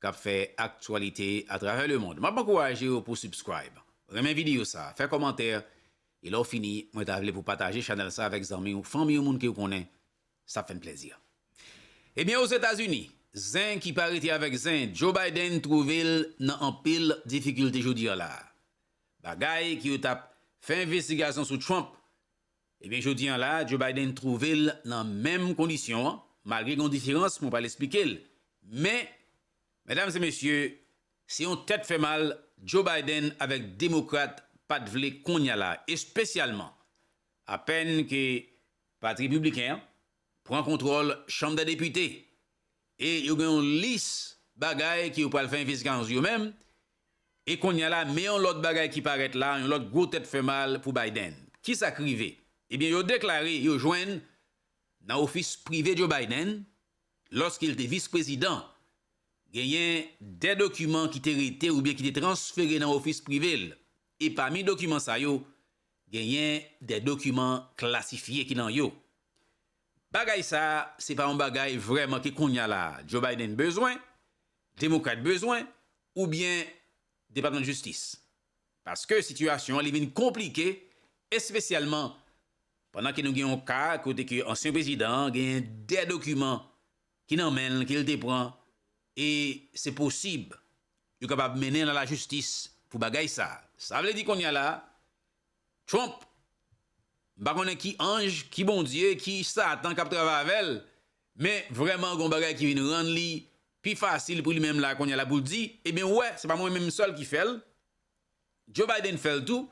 kap fè aktyalite atravè le mond. Map ankouraje w pou subscribe, renmen video sa, fè kòmantè e lè w fini mwen ta vle pou pataje chanèl sa avèk zanmi w, fanmi w, moun ke w konnen sa ap fè n plèzi. Ebyen Ozetazini, zen ki pa rete avèk zen, Joe Biden twouve l nan anpil difikilte jodi a la. Bagay ke yo tap fè envestigasyon sou Trump Ebyen jodi an la Joe Biden twouve l nan menm kondisyon an, malgre gen yon diferans mwen pral esplike l. Men, medam e mesye, se yon tèt fè mal Joe Biden avèk demokrat pa t vle konnya la, espesyalman apèn ke pati repibliken an pran kontwòl chanm dè depite e yo gen yon lis bagay ke yo pral fè envestigasyon sou yo menm e kounye a la men yon lòt bagay ki parèt la yon lòt gwo tèt fè mal pou Biden. Ki sa k rive? Ebyen yo deklare yo jwenn nan ofis prive Joe Biden lòske l te vis prezidan genyen de dokiman ki te rete oubyen ki te transfere nan ofis prive l e pami dokiman sa yo Genyen de dokiman klasifye ki nan yo. Bagay sa a se pa yon bagay vrèman ke kounya la a Joe Biden bezwen, Demokrat bezwen oubyen Depatman Jistis. Paske sitiyasyon an li vin konplike espesyalman pandan ke nou gen yon ka kote ke ansyen prezidan an genyen de dokiman ki nan men l ke l te pran e se posib yo kapab mennen l a lajistis pou bagay sa. Sa vle di kounye a la Trump m pa konnen ki anj, ki Bondye, ki satan k ap travay avè l men vrèman gen yon bagay ki vin rann li pi fasil pou li menm la kounye a la pou l di ebyen ou wè se pa mwen menm sèl ki fè l Joe Biden fè l tou,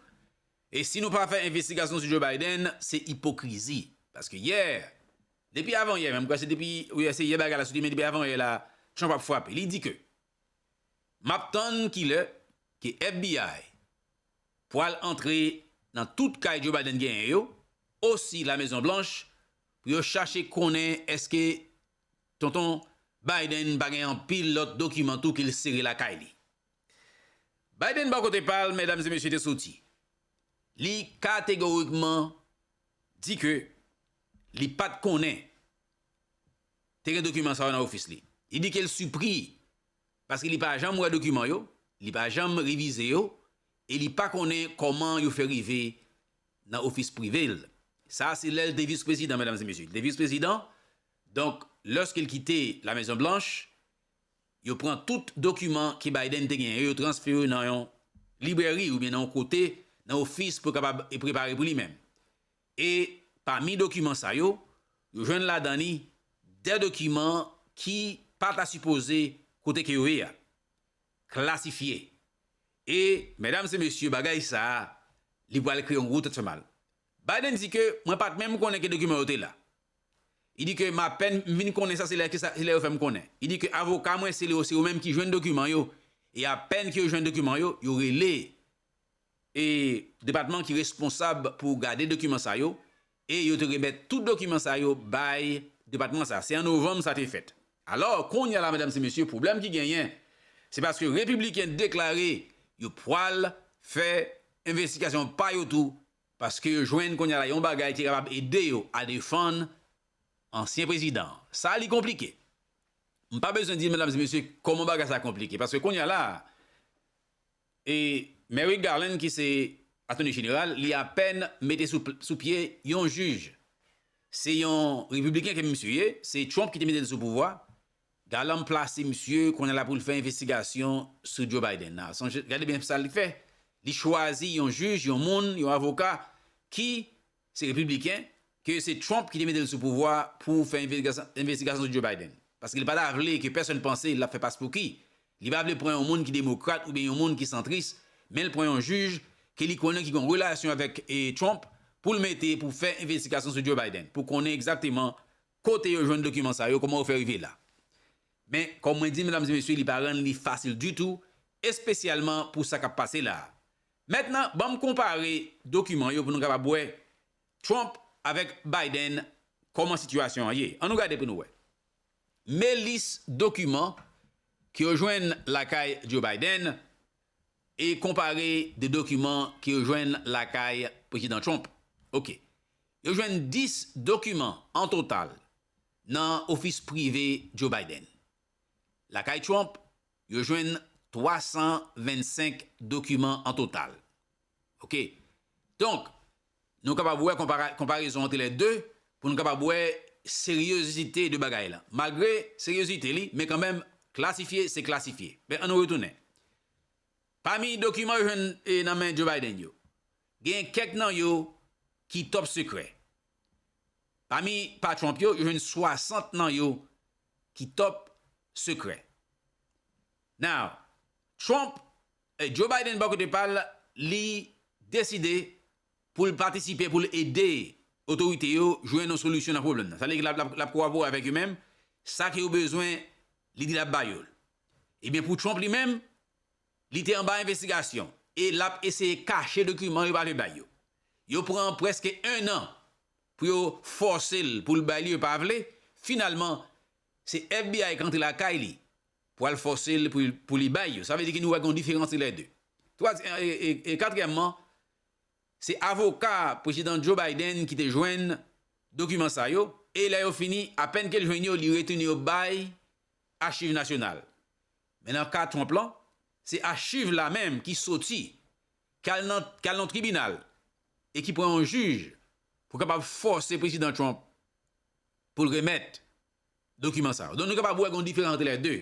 e si nou pa fè envestigasyon sou Joe Biden, se ipokrizi. Paske yè, depi avan yè menm, m kwè se depi, wi se yè bagay la soti, men depi avan yè la, Trump ap frape. Li di ke, m ap tann ki lè ke FBI pwal antre nan tout kay Joe Biden genyen yo, osi La Mezon Blanch, pou yo chache konnen eske tonton Biden pa gen anpil lòt dokiman tou ke l sere lakay li. Biden bò kote pa l, medam e mesye te soti, li kategorikman di ke li pa t konnen te gen dokiman sa yo nan ofis li. Li di ke l sipri paske li pa janm wè dokiman yo, li pa janm revize yo e li pa konnen kòman yo fè rive nan ofis prive l. Sa se lè l te vis prezidan medam e mesye, li te vis prezidan donk lòske l kite la mezon blanch, Yo pran tout dokiman ke Biden te genyen yo, yo transfere yo nan yon librèri oubyen nan yon kote, nan ofis pou yo kapab prepare pou li menm. E pami dokiman sa yo, yo jwenn ladan li 2 dokiman ki pa ta sipoze kote ke yo ye a, klasifye. E medam se mesye bagay sa a, li pwal kreye yon gwo tèt fè mal. Biden di ke mwen pat menm konnen ke dokiman yo te la. Il dit que m apèn m vin konnen sa se lè ke sa se lè yo fè m konnen. Il dit que avoka mwen se yo se yo menm ki jwenn dokiman yo e apèn ke yo jwenn dokiman yo, yo rele e depatman ki responsab pou gade dokiman sa yo e yo te remèt tout dokiman sa yo bay depatman sa. Se an novanm sa te fèt. Alò, kounye a la medam se mesye pwoblèm ki genyen se paske repibliken deklare yo pwal fè envestikasyon pa yo tou Paske yo jwenn kounye a la yon bagay ki kapab ede yo a defann ansyen prezidan an. Sa li konplike. M pa bezwen di medam e mesye kòman bagay sa konplike. Paske kounye a la a, e Merrick Garland ki se Atoni Jeneral, li apèn mete sou pye yon jij. Se yon repibliken ke misye ye, se Trump ki te mete l sou pouvwa. Garland plase misye, kounye a la pou l fè envestigasyon sou Joe Biden la. Sonje, gade byen sa li fè, li chwazi yon jij, yon moun, yon avoka ki se repibliken, ke se Trump ki te mete l sou pouvwa a pou fè envestigasyon sou Joe Biden. Paske li pa ta vle ke pèsòn panse l ap fè paspouki. Li pa vle pran yon moun ki demokrat oubyen yon moun ki santris, men l pran yon jij ke li konnen ki gen yon relasyon avèk Trump pou l mete pou fè envestigasyon sou Joe Biden, pou konnen egzakteman Kote yo jwenn dokiman sa yo, kòman yo fè rive la? Men, kòm mwen di medam e mesye li pa rann li fasil ditou, espesyalman pou sa k ap pase la a. Mètnan, ban m konpare dokiman yo pou nou kapab wè Trump avèk Biden kòman sitiyasyon an ye. An nou gade pou nou wè. Me lis dokiman ke yo jwenn lakay Joe Biden e konpare de dokiman ke yo jwenn lakay Prezidan Trump. Ok. Yo jwenn 10 dokiman an total nan ofis prive Joe Biden. Lakay Trump, yo jwenn 325 dokiman an total. Ok. Donk, nou kapab wè konparezon antre lè 2 pou nou kapab wè seryozite de bagay lan. Malgre seryozite li, men kanmenm, klasifye se klasifye. Men, an nou retounen. Pami dokiman yo jwenn nan men Joe Biden yo, genyen kèk nan yo ki top sekrè. Pami pa Trump yo, yo jwenn 60 nan yo ki top sekrè. Now, Trump, Joe Biden bò kote pa l, li deside pou l patisipe, pou l ede otorite yo jwenn yon solisyon nan pwoblèm nan. Sa vle di l ap kolabore avèk yo men sa ke yo bezwen li di l ap ba yo l. Ebyen pou Trump li menm, li te anba envestigasyon e l ap eseye kache dokiman yo pa vle bay yo. Yo pran prèske ennan pou yo fòse l pou l bay li yo pa vle, finalman se FBI k antre lakay li pou al fòse l pou li bay yo. Sa vle di ke nou wè gen yon diferans antre lè 2. E katriyèmman, se avoka Prezidan Joe Biden ki te jwenn dokiman sa yo e lè yo fini, apèn ke l jwenn yo, li retounen yo bay Achiv Nasyonal. Men nan ka Trump lan, se achiv la menm ki soti, ki al nan, ki al nan tribinal e ki pran yon jij pou kapab fòse Prezidan Trump pou l remèt dokiman sa yo. Donk nou kapab wè gen yon diferans antre lè de.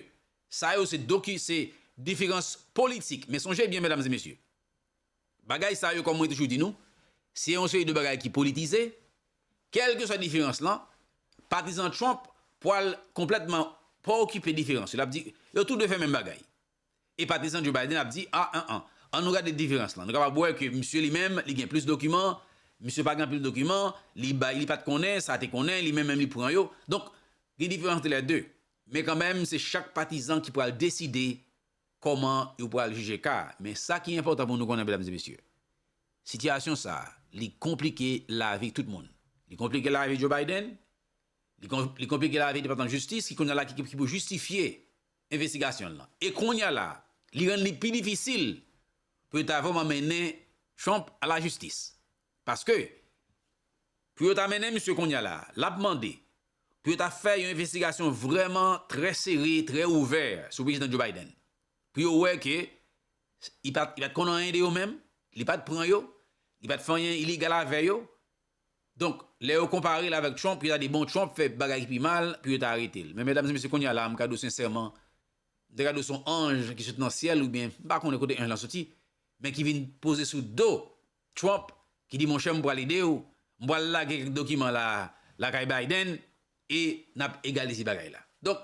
Sa yo se doki, se diferans politik. Men sonje byen medam e mesye, Bagay sa yo kòm mwen toujou di nou, se yon seri de bagay ki politize, kèlkeswa diferans lan, patizan Trump pwal konplètman pa okipe diferans yo, l ap di yo tou 2 fè menm bagay, e patizan Joe Biden ap di a an an, an nou gade diferans lan, nou kapab wè ke misye li menm li gen plis dokiman, misye pa gen anpil dokiman, li bay li pa t konnen, sa te konnen, li menm menm li pran yo, donk gen diferans de lè 2, men kanmenm se chak patizan ki pwal deside kòman yo pral jije ka a. Men sa ki enpòtan pou nou konnen medam e mesye, sitiyasyon sa a, li konplike lavi tout moun. Li konplike lavi Joe Biden, li konplike lavi Depatman Jistis ki kounya la ki pou jistifye envestigasyon l lan. E kounya la, li rann li pi difisil pou yo ta vrèman mennen Trump a lajistis. Paske, pou yo ta mennen misye kounye a la, l ap mande pou yo ta fè yon envestigasyon vrèman trè sere, trè ouvè sou Prezidan Joe Biden, pou yo wè ke li pa t konn anyen de yo menm, li pa t pran yo, li pa t fè anyen ilegal avè yo. Donk, lè yo konpare l avèk Trump, yo ta di, bon, Trump fè bagay ki pi mal, pou yo ta arete l. Men, medam e mesye, kounye a la, m ka di w sensèman, m ta ka di w se yon anj ki sot nan syèl oubyen m pa konnen kote anj lan soti, men ki vin poze sou do Trump ki di monchè m pral ede w, m pral lage kèk dokiman la a lakay Biden e n ap egalize bagay la. Donk,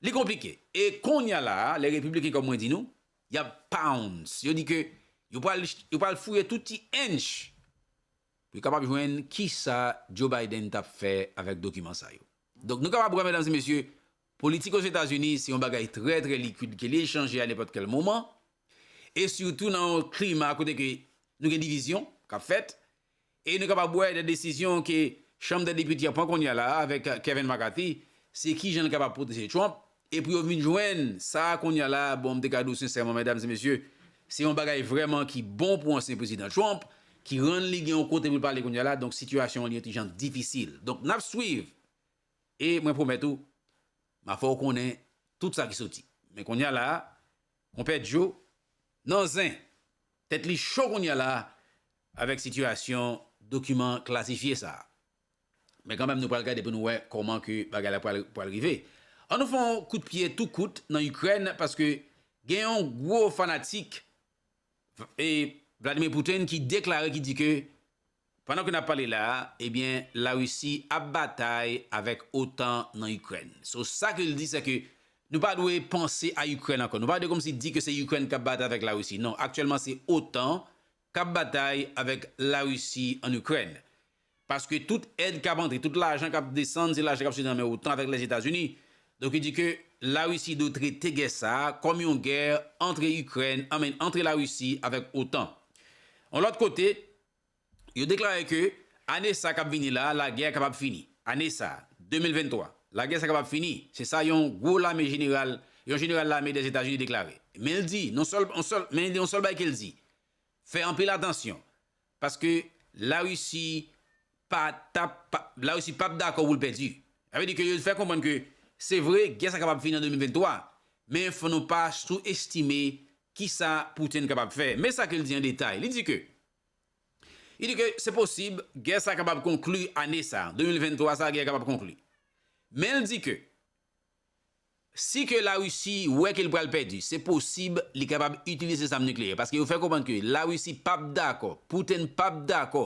li konplike. E konnya la a, lè Repibliken kòm mwen di nou, y ap pounce, yo di ke yo pral yo pral fouye tout ti ench pou yo kapab jwenn kisa Joe Biden t ap fè avèk dokiman sa yo. Donk, nou kapab wè medam e mesye, Politik Ozetazini se yon bagay trè trè likwid ke li chanje a nenpòt kèl moman e sitou nan yon klima kote ke nou gen divizyon k ap fèt e nou kapab wè de desizyon ke chanm dè depite an pran kounye a la a avèk Kevin McCarthy se kijan l kapab pwoteje Trump e pou yo vin jwenn sa a kounye a la a bon m te ka di w sensèman medam e mesye se yon bagay vrèman ki bon pou ansyen prezidan Trump ki rann li gen yon kote pou l pale kounye a la donk sitiyasyon an li yon ti jan difisil donk n ap swiv E mwen pwomèt ou, m a fè w konnen tout sa ki soti. Men kounye a la a, Konpè Djo nan zen! Tèt li cho kounye a la a avèk sitiyasyon dokiman klasifye sa a. Men kanmèm nou pral gade pou nou wè kòman ke bagay la pral rive. An nou fè yon kout pye tou kout nan Ikrèn paske gen yon gwo fanatik Vladimir Putin ki deklare ki di ke pandan ke nap pale la a ebyen la Russie ap batay avèk otan nan Ukraine. So sa ke li di se ke nou pa dwe panse a Ukraine ankò. Nou pa dwe komsi di ke se Ukraine kap batay avèk la Russie. Non aktyèlman se otan kap batay avèk la Russie an Ukraine. Paske tout èd kap antre, tout lajan kap desann se lajan kap soti nan men otan avèk Lèzetazini. Donk yo di ke La Risi dwe trete gè sa a kòm yon gè antre Ikrèn, I mean antre La Risi avèk otan. Yon lòt kote, yo deklare ke ane sa kap vini la a lagè a kapab fini. Ane sa a, 2023, lagè sa kapab fini, se sa yon gwo lame jeneral, yon jeneral lame Lèzetazini deklare. Men l di, non sèl, yon sèl, men yon sèl bagay ke l di, fè anpil atansyon. Paske la Russie pa tap la Russie pap dakò poul pèdi. Sa vle di ke yo fè konprann ke se vre gè sa kapab fini an 2023 men fò nou pa sou estime kisa Putin kapab fè. Men sa kel di an detay. Li di ke Li di ke se posib gè sa kapab konkli ane sa, 2023 sa gè a kapab konkli. Menl di ke. Si ke La Risi wè ke li pral pèdi, se posib li kapab itilize zam nikleyè. Paske yo fè konprann ke La Risi pa p dakò, Putin pa p dakò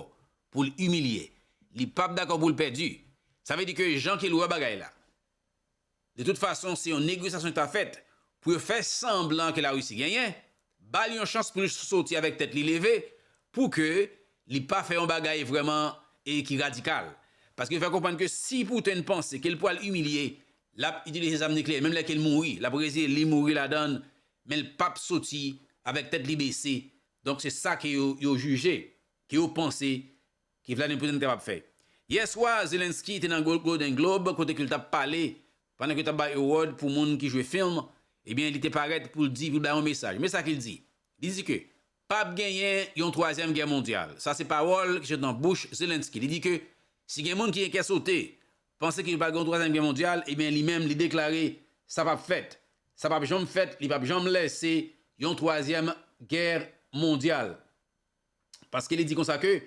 pou l imilye. Li pa p dakò pou l pèdi. Sa vle di ke jan ke l wè bagay la, de tout fason se yon negosyasyon ki ta fèt pou yo fè sanblan ke La Risi genyen, Ba l yon chans pou l soti avèk tèt li leve pou ke li pa fè yon bagay vrèman e ki radikal. Paske l fè konprann ke si Putin panse ke l pwal imilye, l ap itilize zam nikleyè menm lè ke l mouri. L ap reziye li mouri ladan l, men l p ap soti avèk tèt li bese. Donk se sa ke yo jije, ke yo panse ke Vladimir Putin kapab fè. Yè swa, Zelenskyy te nan Golden Globe kote ke l t ap pale Pandan ke yo t ap bay award pou moun ki jwe film, ebyen li te parèt pou l di, pou l bay yon mesaj. Men sa ke l di, li di ke pa p genyen yon twazyèm gè mondyal. Sa se pawòl ki sot nan bouch Zelensky. Li di ke si gen moun ki gen kè sote, panse ke pa gen yon twazyèm gè mondyal, ebyen li menm li deklare sa p ap fèt. Sa p ap janm fèt, li p ap janm lese yon twazyèm gè mondyal. Paske li di konsa ke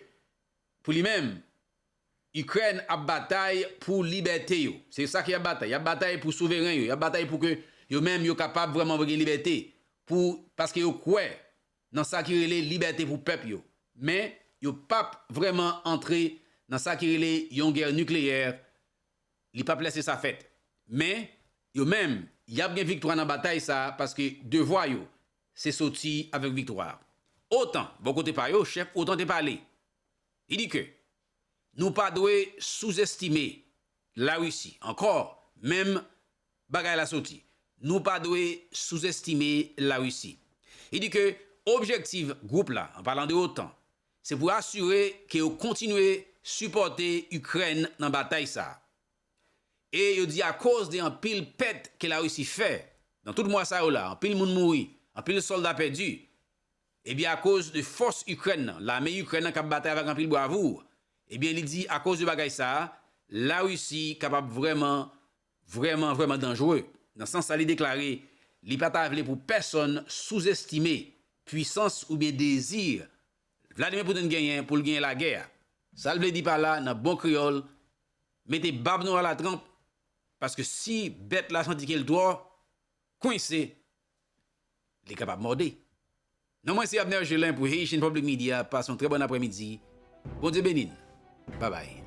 pou li menm, Ikrèn ap batay pou libète yo. Se sa ke y ap batay. Y ap batay pou souveren yo. Y ap batay pou ke yo menm yo kapab vrèman vre gen libète. Pou, paske yo kwè nan sa ki rele libète pou pèp yo. Men, yo p ap vrèman antre nan sa ki rele yon gè nikleyè. Li p ap lèse sa fèt. Men, yo menm, y ap gen viktwa nan batay sa a paske devwa yo se soti avèk viktwa a. Otan, bò kote pa yo, chèf otan te pale. Li di ke nou pa dwe souzestime Larisi, ankò menm bagay la soti, nou pa dwe souzestime Larisi. Li di ke objektiv gwoup la, an palan de otan, se pou asire ke yo kontinye sipòte Ikrèn nan batay sa a. E yo di akoz de anpil pèt ke Larisi fè nan tout mwa sa yo la, anpil moun mouri, anpil sòlda pèdi, Ebyen akoz de fòs Ikrèn nan, lame Ikrèn nan kap batay avèk anpil bwavour, ebyen li di akoz de bagay sa, la Risi kapab vrèman vrèman vrèman danjre. Nan sans sa li deklare li pa ta vle pou pèsòn souzestime pwisans oubyen dezi Vladimir Putin genyen pou l genyen lagè a. Sa l vle di pa la nan bon kreyòl, mete bab nou alatranp, paske si bèt la santi ke l twò kwense, Li kapab mòde. Non mwen se Abner Gelin pou Haitian Public Media pase yon trè bòn aprè midi Bondye beni n babay.